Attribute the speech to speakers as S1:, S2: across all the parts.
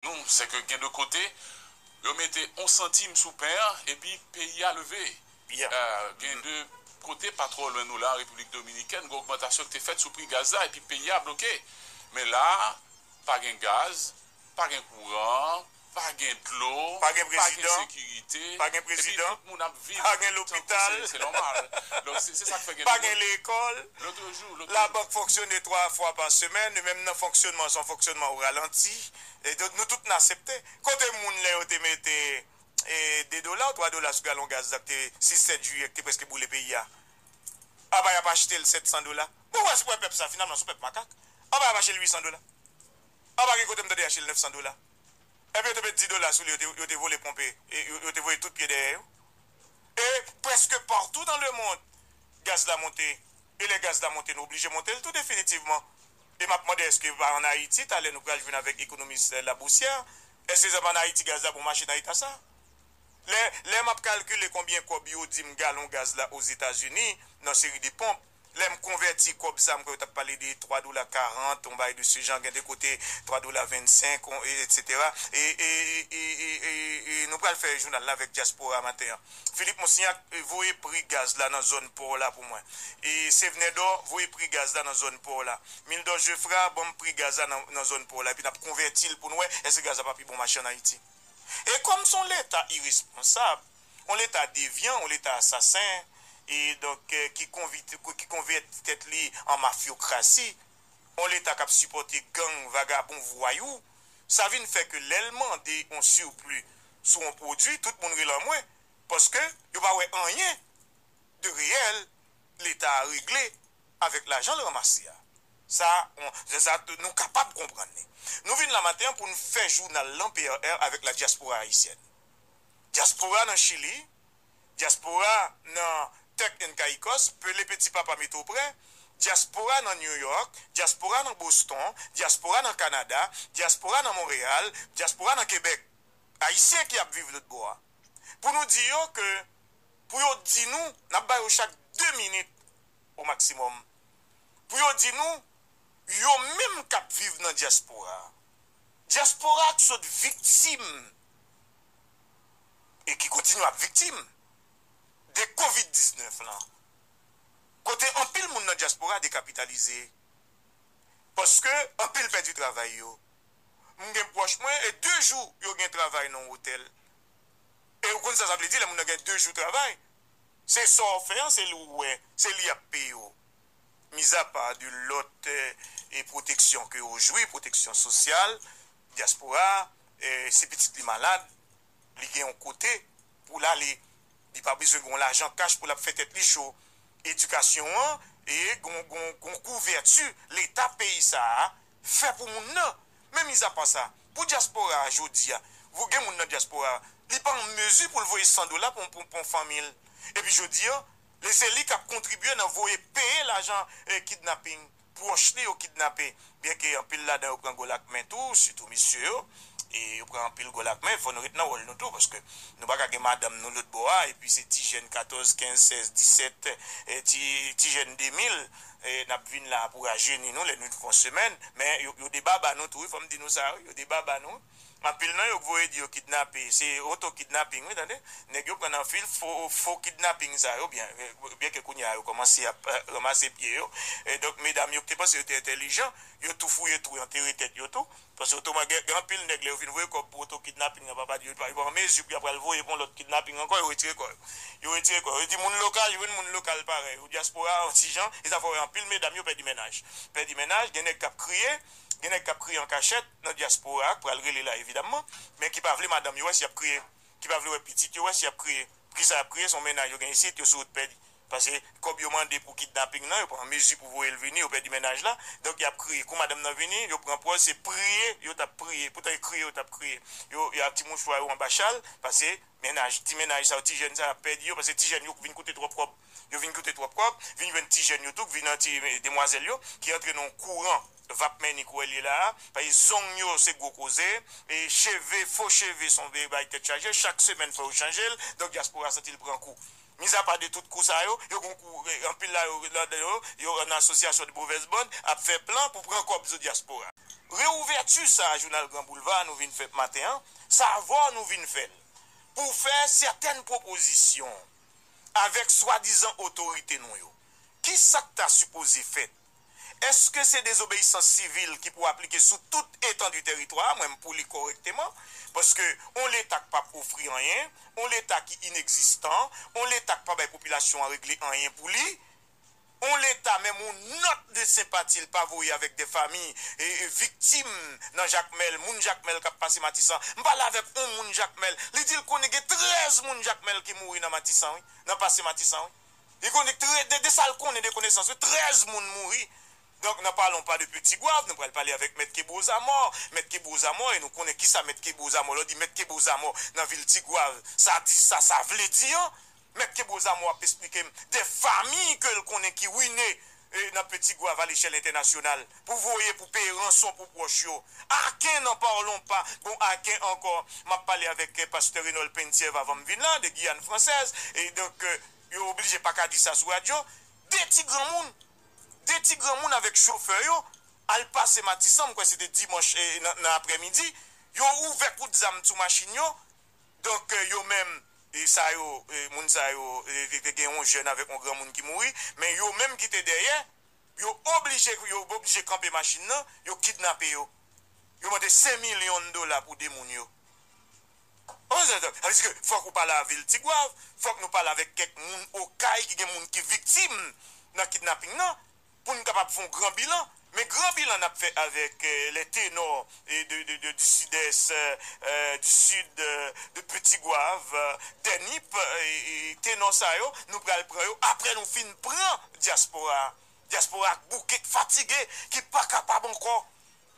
S1: Nou, se ke gen de kote, yo mete yon santim sou pen an, epi peyi a leve. Gen de kote, pa twò lwen nou la, an Repiblik Dominikèn, gen ogmantasyon ki te fèt sou pri gaz la, epi peyi a bloke. Men la, pa gen gaz, pa gen kouran, pa gen dlo, pa gen
S2: sekirite,
S1: epi tout
S2: moun ap viv
S1: tankou se nòmal.
S2: Donk,
S1: se sa k fè gen de moun. Labank fonksyone 3
S2: fwa pa semèn, e menm nan fonksyonman sa, fonksyonman ou ralanti, e donk nou tout n asepte. Kote moun lè yo te mete 2 dola ou 3 dola sou galon gaz la k te 6, 7 jiyè k te prèske boule peyi a? Apa y ap achte l 700 dola? Mwen wè se wè pèp sa finalman s on pèp makak. Apa y ap achte l 800 dola? Apa gen kote m tande y achte l 900 dola? Epi yo te met 10 dola sou li yo te vole ponpe, yo te voye tout pye dèyè yo. e prèske partou nan lemond gaz la monte e lè gaz la monte nou oblije monte l tou definitivman e map mande èske pa an Ayiti talè nou pral jwenn avèk ekonomis Laboussière èske se pa an Ayiti gaz la bon mache nan eta sa lè lè map kalkile konbyen kòb yo dim galon gaz la Ozetazini nan seri de ponp. lèm konvèti kòb sa mkwè yo tap pale de 3 dola 40 yon bagay de ce genre gen de kote 3 dola 25 etc e nou pral fè jounal la avèk diaspora maten an Philippe Monstignac voye pri gaz la nan zòn paw la pou mwen e Sevenèdò voye pri gaz la nan zòn paw la Mildor Geffrard banm pri gaz la nan zòn paw la epi nap konvètil poun wè èske gaz la pa pi bon mache an Ayiti e kòm son leta iresponsab On leta devyan, on leta asasen, e donk ki konvèti tèt li an mafyokrasi, on leta kap sipòte gang, vagabon, vwayou, sa vin fè ke lè l mande on surplus sou on pwodui, tout moun rele an mwen, paske yo pa wè anyen de reyèl leta a regle avèk lajan l ranmase a. Sa on, sa nou kapab konprann li. Nou vin la maten an pou n fè jounal lan PRR avèk la dyaspora ayisyèn. Dyaspora nan Chili, Dyaspora nan Turk and Caicos, Pelé Petit Papa mete w prè, Dyaspora nan New York, Dyaspora nan Boston, Dyaspora nan Kanada, Dyaspora nan Montréal, Dyaspora nan Québec, Ayisyen ki ap viv lotbò a, pou nou di yo ke pou yo di nou, n ap ba yo chak 2 minit o maksimòm, pou yo di nou yo menm k ap viv nan Dyaspora a, Dyaspora k sot viktim e ki kontinye ap viktim de kovid 19 lan kote anpil moun nan dyaspora dekapitalize paske anpil pèdi travay yo m gen pwòch mwen e 2 jou yo gen travay nan yon otèl e ou konn sa sa vle di lè moun nan gen 2 jou travay se sa w fè an se li w wè se li y ap peye w. mizapa de lòt pwoteksyon ke yo jwi, pwoteksyon sosyal, dyaspora, si pitit li malad, li gen yon kote pou l ale, li pa bezwen gen yon lajan kach pou l ap fè tèt li cho. Edikasyon an gen yon kouvèti Leta peyi sa a fè pou moun nan. Men mizapa sa, pou dyaspora a jodi a, gen moun nan dyaspora a, li pa an mezi pou l voye san dola pou yon fanmi l. Epi jodi a, li se li kap kontribye nan voye peye lajan kidnapping pwòch li yo kidnape byen ke anpil ladan yo pran gòl ak men tou sitou mesye yo e yo pran anpil gòl ak men fò nou ret nan wòl nou tou paske nou paka gen madanm nou lòt bò a epi se ti jèn 14 15 16 17 ti ti jèn 2000 nap vin la pou rajeni nou lè nou t fon semèn men yo debaba nou tou wi fòm di nou sa wi yo debaba nou. Anpil nan yo k voye di yo kidnape se oto kidnaping wi tande nèg yo pran nan fil fo fo kidnaping sa yo byen byen ke kounyea yo kòmanse ap ranmase pye yo donk medam yo k te panse yo te entèlijan yo tou fouye twou antere tèt yo tou paske otoman gen gen anpil nèg lè yo fin voye kòb pou oto kidnaping nan papa di yo pa yo pa an mezi pou y ap pral voye pou yon lòt kidnaping ankò yo retire kò yo yo retire kò yo yo di moun lokal jwenn moun lokal parèy ou dyaspora an ti jan e sa fè w wè anpil medam yo pèdi mennaj pèdi mennaj gen nèg k ap kriye Gen nèg k ap kriye an kachèt nan dyaspora a k pral rele la evidamman, men ki pa vle madanm yo wè si y ap kriye, ki pa vle wè pitit yo wè si y ap kriye. Poukisa y ap kriye? Se yon mennaj yo gen isit, yo sou wout pèdi. Pase kòb yo mande pou kidnaping nan, yo pran mezi pou voye l vini, yo pèdi mennaj la, donk y ap kriye. Kou madanm nan vini, yo pran pòz se priye yo t ap priye, poutan e kriye yo t ap kriye. Yo ak ti mouchwa yo anba chal, pase mennaj, ti mennaj sa yo, ti jèn sa yo ap pèdi yo, pase ti jèn yo vin koute twòp kòb. Yo vin koute twòp kòb, vin jwenn ti jèn yo tou k vin an ti demwazèl yo ki antre nan yon kouran vap mèni kou èl ye la a, paske zong yo se gwo koze, e cheve, fo cheve son vye bagay tèt chaje, chak semèn fò yo chanje l, donk dyaspora santi l pran kou. Mizapa de tout kou sa yo, yo gon kou, anpil la yo ladan yo, yo an asosyasyon de movèz band ap fè plan pou pran kòb zo dyaspora. Reouvèti sa a jounal Gran Boulva a nou vin fè maten an, sa avè w nou vin fè l, pou fè sètèn pwopozisyon. avèk swadizan otorite nou yo. Ki sa k ta sipoze fèt? Èske se dezobeyisans sivil ki pou aplike sou tout etandu tèritwa a? Mwen m pou li kòrèkteman. Paske on Leta k pap ofri anyen, on Leta ki inekzistan, on Leta k pa bay popilasyon an regle anyen pou li, on leta menm on nòt de senpati l pa voye avèk dè fami viktim nan Jakmèl, moun Jakmèl k ap pase Matisan. M pale avèk on moun Jakmèl, li di l konnen gen 13 moun Jakmèl ki mouri nan Matisan wi, nan pase Matisan wi. Li konnen tre, de, de sa l konnen de konesans wi, 13 moun mouri. Donk nan palon pa de pi Tigwav, nou pral pale avèk Mèt Kebreau Zamò, Mèt Kebreau Zamò e nou konnen kisa Mèt Kebreau Zamò, lè w di Mèt Kebreau Zamò nan vil Tigwav, sa di sa sa vle di an. Mèt Kebreau Zamor ap esplike m de famiy ke l konnen ki ruine nan Petit Goave a lechèl entènasyonal, pou voye pou peye ranson pou pwòch yo. Aken n'en parlons pas! Bon, aken ankò, m ap pale avèk pastè Renold Penthièvre avan m vin la, de Guyane Française, e donk yo oblije pa ka di sa sou radyo. De ti granmoun, de ti granmoun avèk chofè yo al pase Matisan, m kwè se te dimanch nan aprèmidi, yo ouvè kout zam sou machin yo, Donk yo menm sa yo moun sa yo te gen yon jèn avèk yon granmoun ki mouri men yo menm ki te dèyè yo oblije yo oblije kanpe machin nan yo kidnape yo yo mande 5 milyon dola pou 2 moun yo ou sa sa vle di fòk ou pale avil tigwav fòk nou pale avèk kèk moun okay ki gen moun ki viktim nan kidnaping nan. pou n kapab fè yon gran bilan, men gran bilan n ap fè avèk les ténors de du Sud-Est, du Sud, de Petit Goâve, des Nippes, ténors sa yo nou pral pran yo aprè nou fin pran dyaspora a. Dyaspora a k bouke, k fatige, ki pa kapab ankò.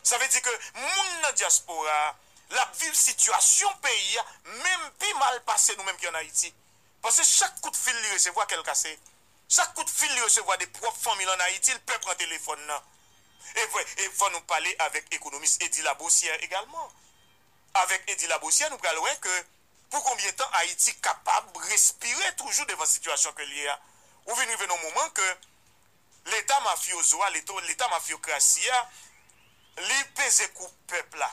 S2: Sa vle di ke moun nan dyaspora a, l ap viv sitiyasyon peyi a menm pi mal pase nou menm ki ann Ayiti. Pase chak kout fil li resevwa, kè l kase. Chak kout fil li resevwa de pwòp fanmi l an Ayiti, l pè pran telefòn nan. E vre, e fò nou pale avèk ekonomis Eddy Labossière egalman. Avèk Eddy Labossière nou pral wè ke pou konbyen tan Ayiti kapab respire toujou devan sitiyasyon ke l ye a. Ou vin rive nan yon moman ke Leta mafyozo a, Leta mafyokrasi a, li peze kou pèp la.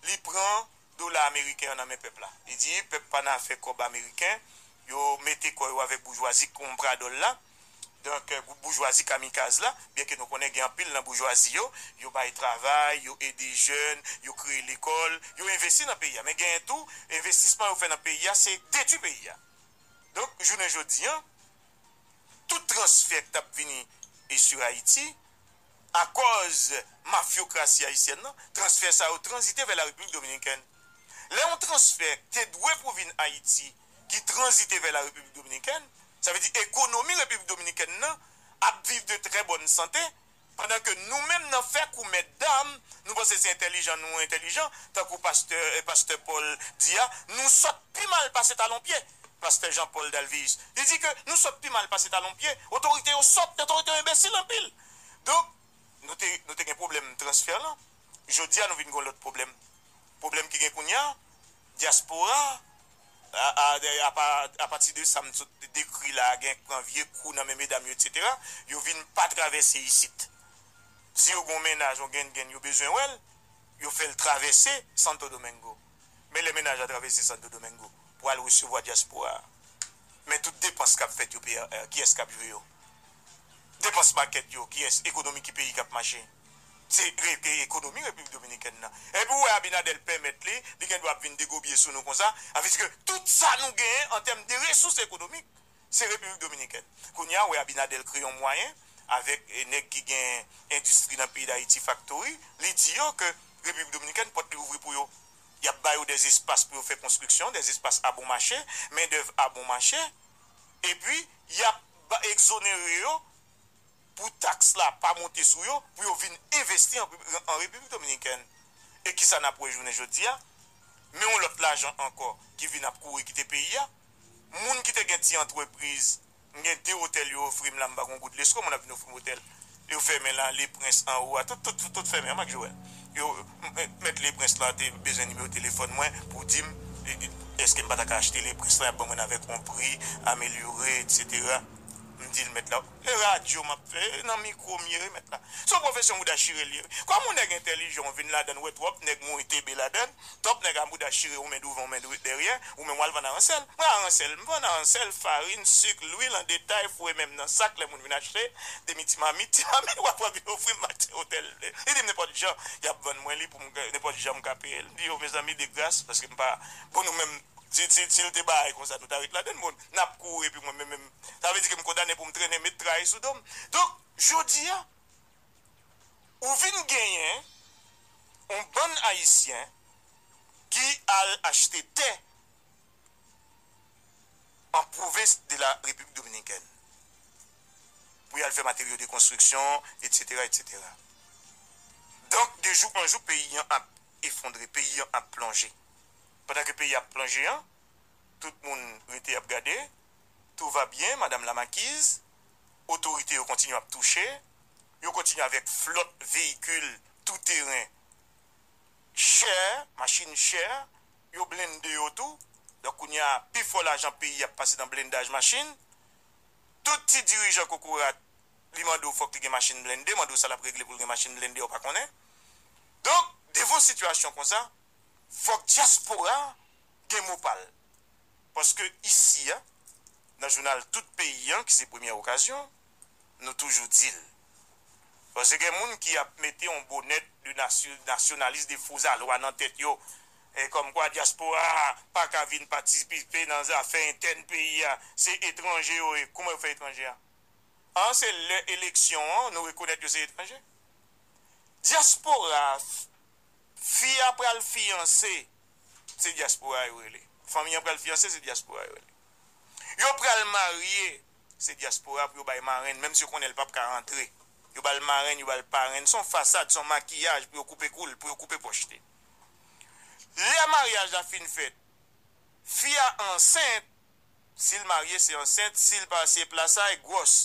S2: Li pran dola ameriken an nan men pèp la. Li di, pèp pa nan afè kòb ameriken, yo mete kò yo avèk boujwazi konpradòl la, donk gwoup boujwazi kamikaz la, byenke nou konnen gen anpil nan boujwazi yo, yo bay travay, yo ede jèn, yo kreye lekòl, yo envesti nan peyi a. Men genyen tou, envestisman yo fè nan peyi a, se detwi peyi a. Donk, jounen jodi an, tout transfè k t ap vini sur Ayiti, Akòz mafyokrasi ayisyèn nan, transfè sa yo tranzite vè Larepiblik Dominikèn. Lè yon transfè k te dwe pou vin Ayiti ki tranzite vè Larepiblik Dominikèn, sa vle di ekonomi Repiblik Dominikèn nan ap viv de trè bòn sante, pandan ke nou menm nan fè kou mèt dam, nou panse se entèlijan nou entèlijan, tankou pastè Pastè Paul di a, nou sòt pi mal pase talon pye. Pastè Jean Paul Dalveus. Li di ke nou sòt pi mal pase talon pye, otorite yo sòt, otorite yo enbesil anpil. Donk, nou te, nou te gen pwoblèm transfè lan, jodi a nou vin gen yon lòt pwoblèm. Pwoblèm ki gen kounye a, dyaspora a, a, apa, apati de sa m sot dekri la a, gen k pran vye kou nan men medam yo etsetera, yo vin pa travèse isit. Si yo gen yon mennaj, yon genngenn, yo bezwen wè l, yo fè l travèse Santo Domingo. Men lè mennaj la travèse Santo Domingo pou al resevwa dyaspora a, men tout depans k ap fèt yo PRR, kiyès k ap jwe yo? Depans makèt yo, kiyès? Ekonomi ki peyi k ap mache? Se ekonomi Repiblik Dominikèn nan. Epi ou wè Abinader pèmèt li, li gen dwa ap vin degobye sou nou konsa, sa vle di ke tout sa nou genyen an tèm de resous ekonomik, Se Repiblik Dominikèn. Kounye a, ou wè Abinader kreye yon mwayen avèk nèg ki gen endistri nan peyi Dayiti, faktori, li di yo ke Repiblik Dominikèn, pòt li ouvri pou yo. Y ap ba yo dè espas pou yo fè konstriksyon, dè espas a bon mache, mendèv a bon mache, epi y ap ekzonere yo pou taks la pa monte sou yo, pou yo vin envesti an Repiblik Dominikèn. E kisa n ap wè jounen jodi a? Men yon lòt lajan ankò ki vin ap kouri kite peyi a. moun ki te gen ti antrepriz m gen 2 otèl yo ofri m la m pa gon goud lesko moun ap vin ofri m otèl yo fèmen la le prens anwo a tout tout tout fèmen an mak joel yo mèt le prens lan te bezwen nimewo telefòn mwen pou di m eske m pa ta ka achte le prens lan y ap ban mwen avèk on pri amelyore etc m di l mèt la. E radyo map fè e nan mikro m ye remet la. Son profesyon mouda chire liye wi. Kom ou neg entelijan ou vin ladann we trop neg mouri TB ladann. Top neg a mouda chire ou men douvan ou men derye. Ou menm wal vann aransel. Mwen aransel m vann aransel farin suk lwil an detay foure menm nan sak le moun vin achte demi ti mamit ti mamit wa pran vin ofri m maten otel m vle. Li dim nenpot jan yap vann mwen li poum nenpot jan m ka peyel m di yo mezanmi de gras paske m pa bon nou menm si l te baay konsa nou ta ret ladann bon nap kouri epi mwen menm Sa vle di ke m kondane pou m trennen met tray sou do m. Donk, jodi a, ou vin genyen yon bann Ayisyen ki al achte tè an pwovens de la Repiblik Dominikèn pou y al fè materyo de konstriksyon, etsetera, etsetera. Donk, de jou an jou, peyi an ap efondre, peyi an ap plonje. Pandan ke peyi a ap plonje an, tout moun rete ap gade, Tout va bien madame la makiz, otorite yo kontinye ap touche, yo kontinye avèk flòt veyikil tou teren chè, machin chè, yo blende yo tou, donk kounye a pi fò lajan peyi ap pase nan blendaj machin, tout ti dirijan kokorat li mande w fòk li gen machin blende, mande w sa l ap regle pou l gen machin blende ou pa konnen. Donk devan sitiyasyon konsa fòk dyaspora gen mo pa l, paske isi a, nan jounal tout peyi an ki se premyè okazyon, nou toujou di l. Paske gen moun ki ap mete yon bonèt de nasyonalis, de fo zalwa nan tèt yo, kòmkwa dyaspora a pa ka vin patisipe nan zafè entèn peyi a, se etranje yo ye. Kouman yo fè etranje a? An se lè eleksyon an nou rekonèt yo se etranje? Dyaspora a, fi a pral fiyanse se dyaspora yo rele. Fanmi an pral fyanse, se dyaspora yo rele. Yo pral marye, se dyaspora pou yo bay marenn, menm si yo konnen li pap ka rantre. Yo ba l marenn, yo ba l parenn. Se yon fasad, se yon makiyaj pou yo koupe kou l, pou yo koupe pòch li. Lè maryaj la fin fèt, fi a ansent, si l marye se ansent, si l pa se plasay, gwòs.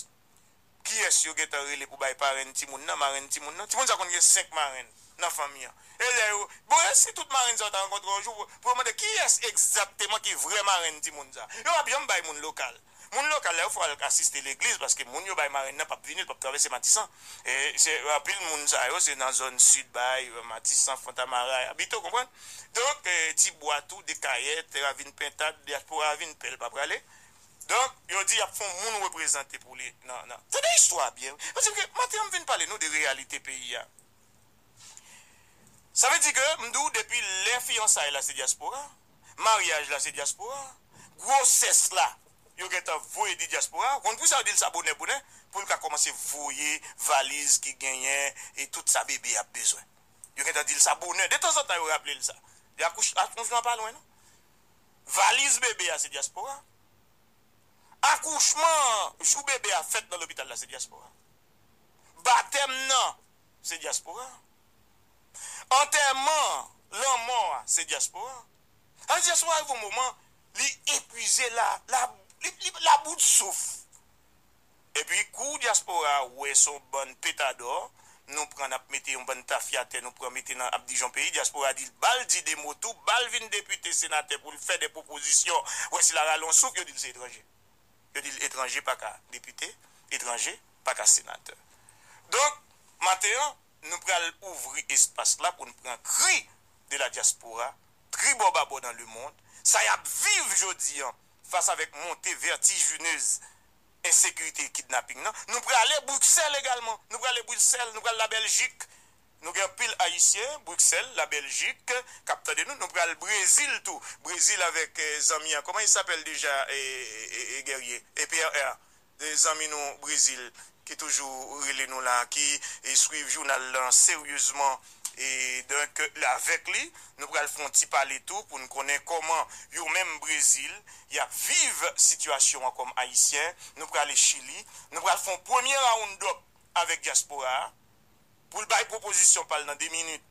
S2: kiyès yo gentan rele pou bay parenn timoun nan, marenn timoun nan. Timoun sa konn gen 5 marenn nan fanmi an. E lè yo, bon e si tout marenn sa yo ta rankontre yon jou pou yo mande kiyès egzakteman ki vrè marenn timoun sa. Yo pap janm bay moun lokal. Moun lokal la yo fò al asiste legliz paske moun yo bay marenn nan pap vini, li pap travèse Matisan. E se anpil moun sa yo se nan zòn sid bay, Matisan, Fontamara y abite ou konprann. Donk, Tibwa tou, Dekayè, Tèravin, Pentad, Dyaspora a vin pè l pa prale. Donk, yo di y ap fon moun reprezante pou li nan nan. Tande istwa a byen wi. Sa vle di ke maten an m vin pale nou de reyalite peyi a. Sa vle di ke m di w depi lè fiyansay la se dyaspora, maryaj la se dyaspora, gwosès la yo gen tan voye di dyaspora. Ou konn pou sa yo di l sa bonè bonè? Pou l ka kòmanse voye valiz ki genyen e tout sa bebe ap bezwen. Yo gen tan di l sa bonè. Detanzantan yo raple l sa. Akouch, akonchman pa lwen non. Valiz bebe a se dyaspora. Akouchman an, jou bebe a fèt nan lopital la se dyaspora. Batèm nan, se dyaspora. Antèman, lanmò a, se dyaspora. Sa vle di dyaspora rive yon moman li epuize, li a bout souf. Epi kou dyaspora a wè son bann petadò nou pran nap mete yon bann tafyatè nou pran mete nan ap dijon peyi dyaspora di bal di 2 mo tou bal vin depite senatè poul fè 2 pwopozisyon wè si la rale yon souf yo dil se etranje yo dil etranje paka depite etranje paka senatè donk maten an nou pral ouvri espas la poun pran kri de la dyaspora tribò babò dan lemond sa yap viv jodi an fas avèk monte vètijinez ensekirite e kidnaping nan, nou prale Bruxelles egalman, nou prale Bruxelles, nou pral la Belgique, nou gen anpil Ayisyen Bruxelles, la Belgique kap tande nou, nou pral Brésil tou, Brésil avèk zanmi an koman il s'appelle deja Guerrier e PRR zanmi nou Brésil ki toujou rele nou la, ki swiv jounal lan seryezman. E donk avèk li nou pral fè yon ti pale tou pou n konnen kòman yo menm Brezil y ap viv sitiyasyon an kòm Ayisyen. Nou prale Chili. Nou pral fè yon premye round-up avèk dyaspora a pou l bay pwopozisyon pa l nan 2 minit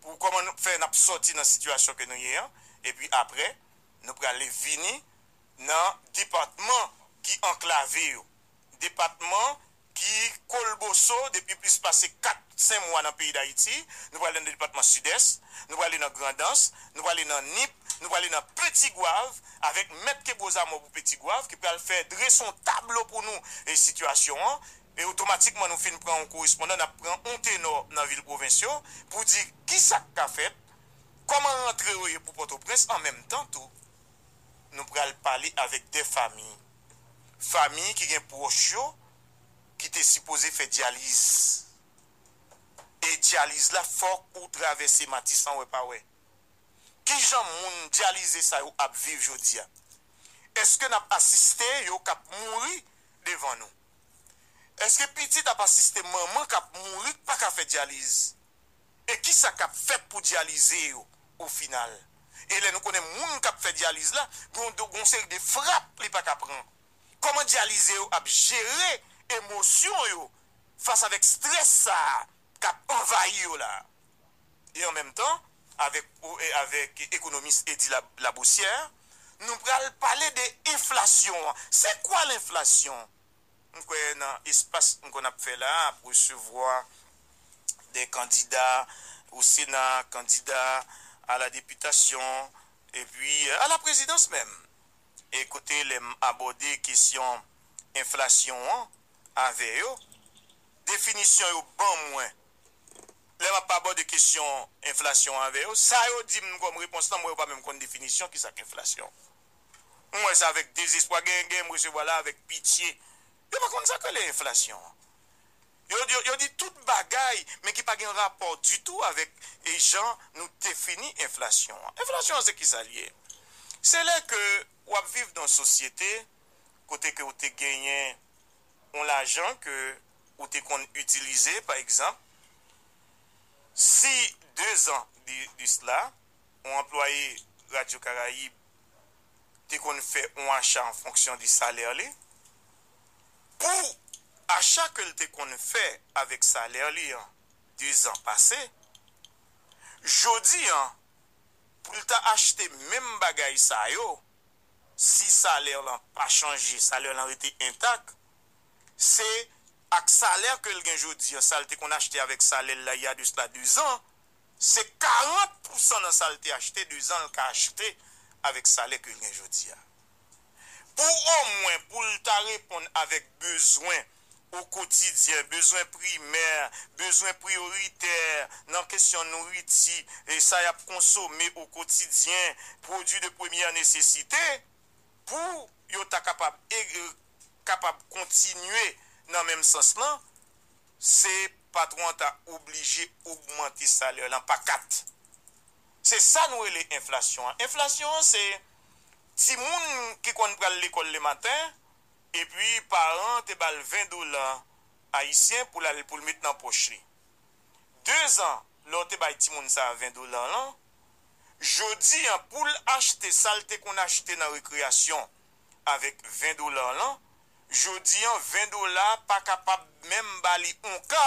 S2: pou kòman nou fè n ap sòti nan sitiyasyon ke nou ye an. Epi apre nou prale vini nan depatman ki anklave yo, depatman ki kolboso depi plis pase 4 5 mwa nan peyi Dayiti, nou prale nan depatman Sidès, nou prale nan Grandans, nou prale nan Nip, nou prale nan Peti Gwav avèk mèt ke gwo zamò pou Peti Gwav ki pral fè drese yon tablo pou nou e sitiyasyon an e otomatikman nou fin pran yon korespondan nap pran yon tenò nan vil pwovens yo pou di kisak ka fèt kòman rantre yo ye pou Pòtoprens an menm tan tou nou pral pale avèk 2 famiy. famiy ki gen pwòch yo ki te sipoze fè dyaliz. E dyaliz la fòk ou travèse Matisan wè pa wè. Kijan moun dyalize sa yo ap viv jodi a? Eske n ap asiste yo k ap mouri devan nou? Eske pitit ap asiste manman k ap mouri k pa ka fè dyaliz? E kisa kap fèt pou dyalize yo o final? E lè nou konnen moun kap fè dyaliz la gen yon seri de frap li pa ka pran? Kòman dyalize yo ap jere emosyon yo fas avèk strès sa kap anvayi yo la? E an menm tan avèk ekonomis Eddy Labossière nou pral pale de enflasyon an. Se kwa lenflasyon? m kwè nan espas m konn ap fè la a ap resevwa de kandida o sena, kandida a la deputasyon epi a la prezidans menm e kote lè m abòde kesyon enflasyon an avè yo definisyon yo ban mwen lè m ap abòde kesyon enflasyon an avè yo sa yo di m kòm repons lan m wè yo pa menm konn definisyon kisa k enflasyon. M wè sa avèk dezespwa. Genyen genyen m resevwa la avèk pitye. Yo pa konn sa k rele enflasyon an. Yo di yo di tout bagay men ki pa gen rapò ditou avèk jan nou defini enflasyon an. Enflasyon an se ki sa l ye? Se lè ke w ap viv nan yon sosyete kote ke ou te genyen yon lajan ke ou te konn itilize pa egzanp si dezan de sla yon anplwaye Radyo Karayib te konn fè yon acha an fonksyon de salè li. Pou acha ke l te konn fè avèk salè li an dezan pase, jodi an pou l ta achte menm bagay sa yo, si salè lan pa chanje, salè lan rete entak, se ak salè ke l gen jodi an, sa l te konn achte avèk salè l la ya de sla dezan, Se 40 pousan nan sa l te achte dezan l ka achte avèk salè ke l gen jodi a. Pou omwen pou l ta reponn avèk bezwen okotidyen, bezwen primè, bezwen priyoritè nan kesyon nouriti, sa y ap konsome okotidyen, pwodui de premyè nesesite, pou yo ta kapab kapab kontinye nan menm sans lan, Se patwon an ta oblije ogmante salè lan pa 4. Se sa nou rele enflasyon an. Enflasyon an se timoun ki konn pral lekòl le maten epi paran an te ba l 20 dola ayisyen pou l al pou l met nan pòch li. Dezan lè w te bay timoun sa a 20 dola lan, jodi an pou l achte sa l te konn achte nan rekreyasyon avèk 20 dola lan, Jodi an 20 dola pa kapab menm ba li on ka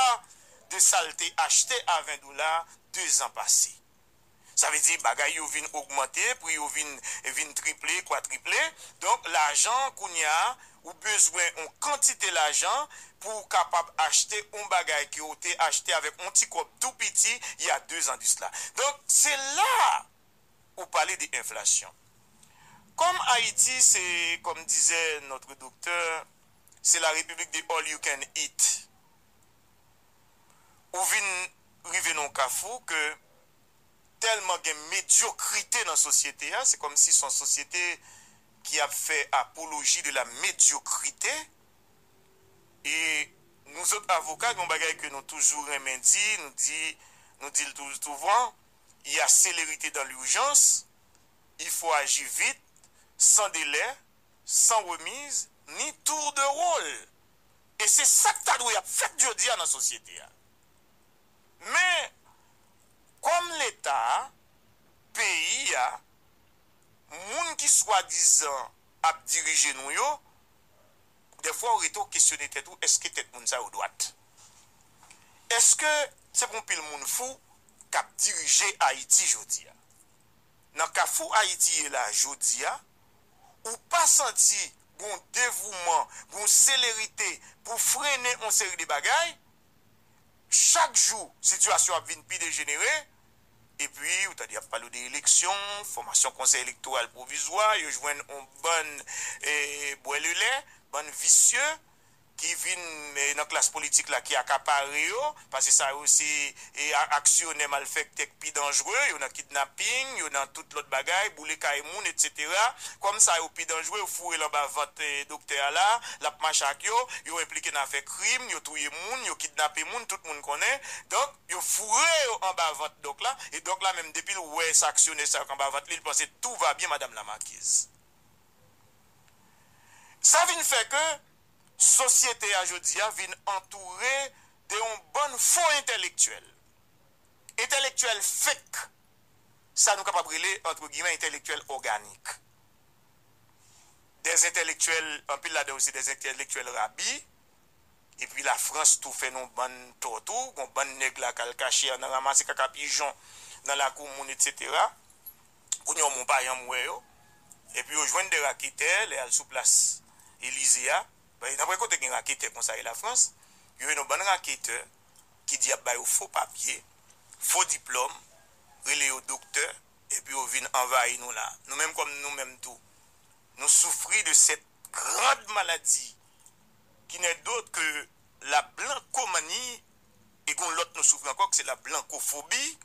S2: de sa l te achte a 20 dola 2 zan pase. Sa vle di bagay yo vin ogmante, pri yo vin vin triple, kwatriple. Donk lajan kounye a ou bezwen on kantite lajan pou w kapab achte on bagay ke w te achte avèk on ti kòb tou piti y a 2 zan disla. Donk se la ou pale de enflasyon. Kòm Ayiti se kòm dizè notre doktè se la repiblik de all you can eat. Ou vin rive nan yon kafou ke tèlman gen medyokrite nan sosyete a, se kòm si son sosyete ki ap fè apoloji de la medyokrite e nou zòt avoka gen yon bagay ke nou toujou renmen di, nou di nou di l toujou souvan, y a célérité dans l'urgence, il faut agir vite, sans délai, sans remise, ni tour de rôle. E se sa k ta dwe ap fèt jodi a nan sosyete a. Men, kòm Leta a, peyi a, moun ki swadizan ap dirije nou yo, Dèfwa ou rete ou kesyone tèt ou èske tèt moun sa yo dwat? Èske se pou yon pil moun fou k ap dirije Ayiti jodi a? Nan kafou Ayiti ye la jodi a, ou pa santi gon devouman, gon selerite pou frennen yon seri de bagay? Chak jou sitiyasyon ap vin pi dejenere, epi ou tande y ap pale w de eleksyon, fòmasyon konsèy elektoral pwovizwa, yo jwenn on bann bwè lelè, bann visye ki vin nan klas politik la ki akapare yo, pase sa yo se aksyonè malfèktè k pi danjre, yo nan kidnaping, yo nan tout lòt bagay, boule kay moun etsetera. Kòm sa yo pi danjre, yo foure l anba vant doktè a la, l ap mache ak yo, yo enplike nan afè. krim, yo touye moun, yo kidnape moun, tout moun konnen. Donk, yo foure yo anba vant Dòk la, e Dòk la menm depi l wè sa aksyonè sa yo k anba vant li, li panse tout va bien madame la marquise. Sa vin fè ke sosyete a jodi a vin antoure de yon bann fo entèlektyèl. Entèlektyèl fake, sa nou kapab rele, antre gimè, entèlektyèl òganik. dè zentèlektyèl, anpil ladan yo se dè zentèlektyèl rabi, epi Lafrans tou fè nou bann tò tou, gon bann nèg la k'al kache an nan ranmase kaka pijon nan lakou moun etsetera, kounye yo moun pa janm wè yo, epi yo jwenn dè raketè lè y'al sou plas Elize a, nanpwen kote gen raketè konsa e Lafrans, yo ye nou bann raketè ki di y'ap ba yo fo papye, fo diplòm, rele yo doktè, epi yo vin anvayi nou la. Nou menm kòm nou menm tou, nou soufri de cette grande maladie qui n'est d'autre que la blancomanie e gon lòt nou soufri ankò ke se la blancophobie,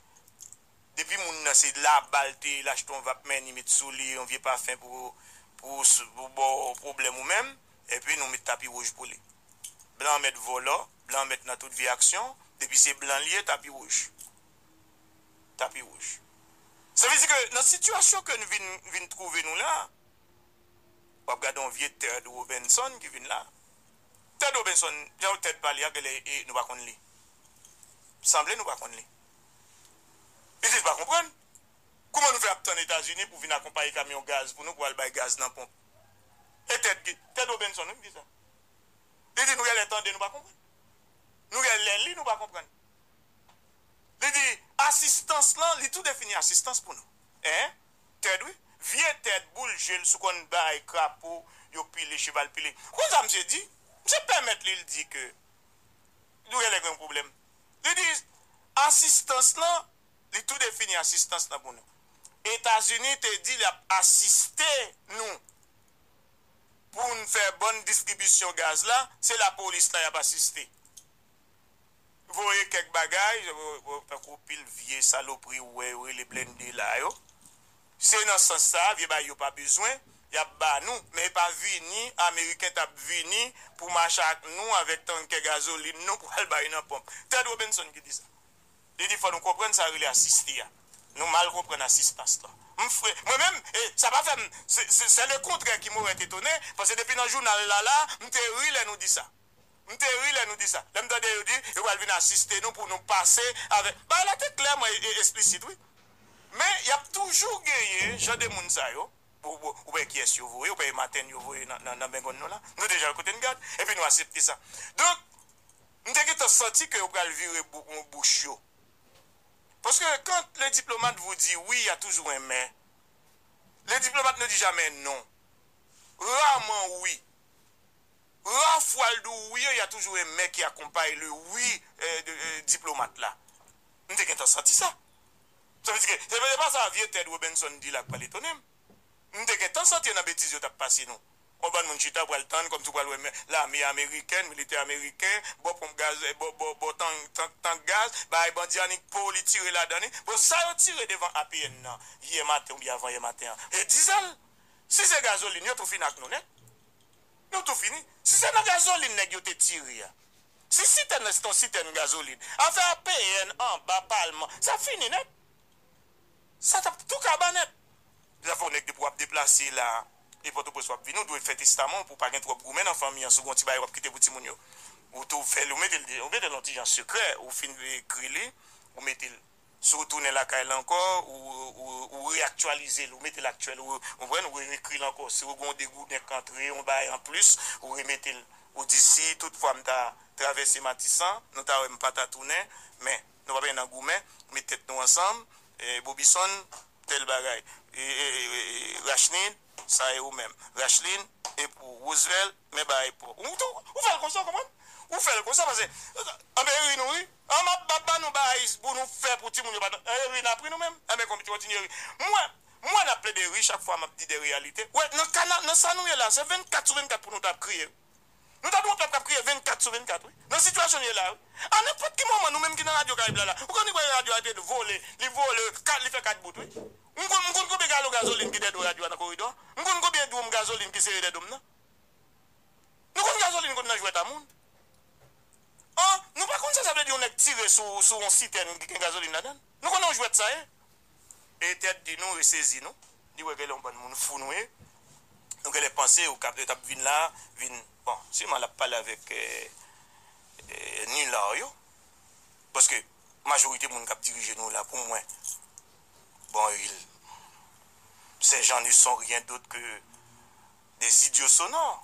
S2: depi moun nan se laba l te ye l achte yon vap men ni met sou li yon vye pafen pou pou ba w pwoblèm ou menm, epi nou met tapi wouj pou li. Blan an mèt vòlò, blan an mèt nan tout vye aksyon, depi se blan li ye tapi wouj. Tapi wouj. Sa vle di ke nan sitiyasyon ke n vin vin twouve nou la, w ap gade yon vye Ted Robinson ki vin la. Ted Robinson, jan Ted pale a genlè e nou pa konn li. Sanble nou pa konn li. Li di l pa konprann. Kouman nou fè ap tann Etazini pou vin akonpaye kamyon gaz pou nou pou al bay gaz nan ponp? E Ted ki, Ted Robinson wi m di sa. Li di nou genlè tande nou pa konprann. Nou genlè li nou pa konprann. Li di, Asistans lan, li tou defini asistans pou nou. Ee, Ted wi. Vye Ted, boul je l sou konn bay krapo yo pile, cheval pile. Ou konn sa misye di? Misye pèmèt li l di ke nou gen lè gen yon pwoblèm. Li di, Asistans lan, li tou defini asistans lan pou nou. Etazini te di l ap asiste nou pou n fè bòn distribisyon gaz la, se lapolis la y ap asiste. voye kèk bagay tankou pil vye salopri ou wè yo rele blende la yo se nan sans sa vye bagay yo pa bezwen yap ba nou men e pa vini ameriken tap vini pou mache ak nou avèk tankè gazolin nou pou al bay nan ponp Ted Robinson ki di sa li di fò nou konprann sa rele asiste a nou mal konprann asistans lan m fre mwen menm e sa pa fèm se se se le kontrè ki moret etone paske depi nan jounal la la m te ri lè nou di sa. M te ri lè nou di sa. Lè m tande yo di yo pral vin asiste nou pou nou pase avè. Bagay la te klè mwen e esplisit wi. Men y ap toujou genyen jan de moun sa yo. Ou pa wè kiyès yo voye, ou pa wè maten yo voye nan bengonn nou la. Nou deja wè kote n gad. Epi nou asepte sa. Donk, m te gentan santi ke yo pral vire bouch yo. Paske quand le diplomate vous dit oui, il y a toujours un mais. Le diplomate ne dit jamais non. Rarement oui. Ralph Waldo Weir ya toujou un mec ki akonpay le oui diplomat la m te gentan santi sa sa vle di ke se pa sa vye Ted Robinson di la k pral etone m m te gentan santi yo nan betiz yo tap pase nou on bann moun chita pral tann kòmsi w pral wè lame ameriken militè ameriken bò ponp gaz bò tank gaz bay bandi annik po li tire ladan li bon sa yo tire devan APN nan yè maten oubyen avan yè maten an e dizèl si se gazolin yo tou fin ak nou nèt Nou tou fini. Si se nan gazolin nèg yo te tire a. Si sitèn nan se te yon sitèn gazolin. Afè APN anba palman. Sa ap fini nèt. Sa t ap tou kaba nèt. Zafè w nèg depi w ap deplase la e Pòtoprens w ap vini ou dwe fè testaman w pou w pa gen twòp goumen nan fanmi an. Si w gen yon ti bagay w ap kite pou timoun yo. Ou tou fè l ou mete l nan ti jan sekrè. Ou fin ekri li ou mete l. Si w tounen lakay la ankò, ou reaktyalize l, ou mete l aktyèl, ou konprann, ou reekri l ankò. Si w gen yon degouden k antre, yon bagay anplis, ou remete l. Ou di, si tout fwa m ta travèse Matisan, nou ta wè m pa ta tounen, men, nou pa benyen nan goumen, met tèt nou ansanm, Bobison, tèl bagay, Rachnin, sa e ou menm, Rachlin, e pou ou, Roosevelt, men bagay pou ou. Ou fè l konsa, ou konprann? Ou fè l konsa, pase, anben ri nou ri. An map bat ba nou baayis bou nou fè pou timoun yo pa nan eri nap ri nou menm anben kontinye ri mwen mwen nap plede ri chak fwa map di de reyalite wè nan ka na nan sa nou ye la se 24 sou 24 pou nou tap kriye wi nou tap yon pèp kap kriye 24 sou 24 wi nan sitiyasyon nou ye la wi a nenpòt ki moman nou menm ki nan radyo karayib la la ou konn wè radyo a epil vole li vole ka li fè 4 bout wi m konn m konn konbyen galon gazolin ki dè do radyo a nan koridò m konn konbyen dwoum gazolin ki sere dè dom nan nou konn gazolin konn nan jwèt a moun An, nou pa konn sa sa vle di yon nèg tire sou sou yon sitèn ki gen gazolin ladan l? Nou konnen yon jwèt sa ye? E Ted di nou e sezi nou, li wè genlè yon bann moun fou nou ye. Nou genlè panse yo kap yo tap vin la a vin bon, siman lap pale avèk Nulard yo, paske majorite moun kap dirije nou la pou mwen bon il ces gens ne sont rien d'autre que des idiots sonores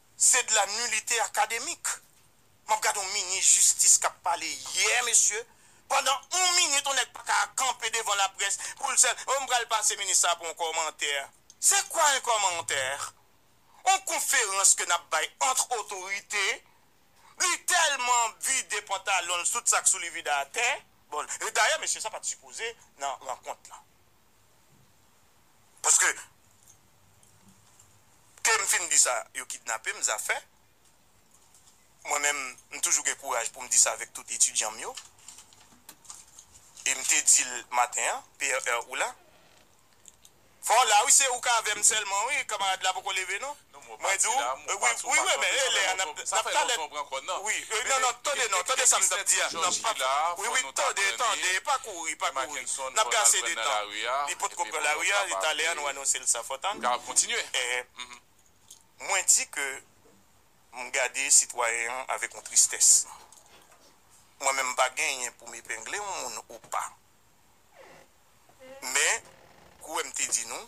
S2: Se de la nullite académique. Map gade yon minis jistis kap pale yè mesye pandan yon minit yon nèg paka kanpe devan laprès poul sèl oh m pral pase minis sa pou yon kòmantè se kwa yon kòmantè yon konferans ke nap bay antre otorite li tèlman vide pantalonl tout sak souli vide atè bon e dayè mesye sa pat sipoze nan rankont lan Paske kem fin di sa yo kidnapem zafè mwen menm m toujou gen kouraj poum di sa avèk tout etidyanm yo em te dil maten an PRR ou la? Fò w la wi se ou k avèm sèlman wi kamarad la poko leve non. Mwen di w, wi, wi, wi, wi, men, e lè a n ap, n ap kalèt. Wi, e, non, non, tande, non, tande sa m t ap di a, n ap pa, wi, wi, tande, tande, pa kouri, pa kouri, n ap gen ase de tan. Li pot ko pran lari a, li talè a nou anonse l sa. Fò w tann. Mwen di ke m gade sitwayen an avèk yon tristès. Mwen menm m pa genyen pou m epengle yon moun ou pa. Men, kouwè m te di nou.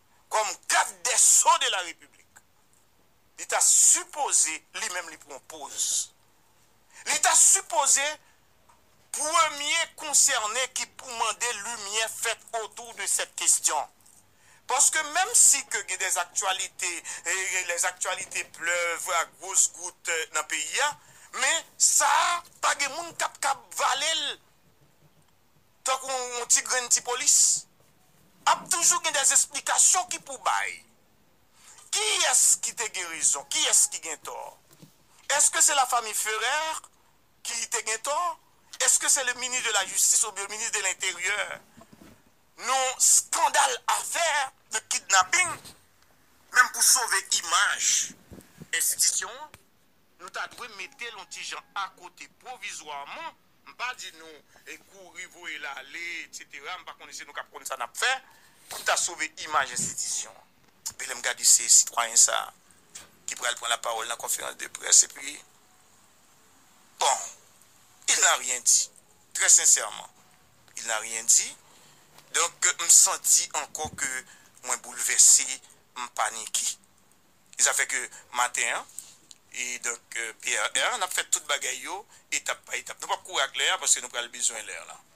S2: kòm gad dè so de la repiblik li ta sipoze li menm li pran poz li ta sipoze premye konsène ki pou mande limyè fèt otou de sèt kestyon paske menm si ke gen dè aktyalite e lè aktyalite plèv a gwos gout nan peyi a men sa a pa gen moun kap kab vale l. tankou yon ti grenn ti polis, ap toujou gen des esplikasyon ki pou bay. Kiyès ki te gen rezon, kiyès ki gen tò? Eske se la fami Ferrer ki te gen tò? Eske se le minis de la jistis oubyen minis de lenteryè nan skandal afè de kidnaping menm pou sove imaj enstitisyon an? Nou ta dwe mete l yon ti jan akote pwovizwaman. M pa di nou kouri voye l ale etc m pa konnen se nou k ap konn sa n ap fè pou ta sove imaj enstitisyon an. Epi lè m gade se sitwayen sa ki pral pran lapawòl nan konferans de près epi bon il n'a rien dit trè sensèman il n'a rien dit donk m santi ankò ke mwen boulvèse m panike. E sa fè ke maten an, e donk PRR, n ap fè tout bagay yo etap pa etap. Nou p ap kouri ak lè a paske nou pral bezwen lè lan.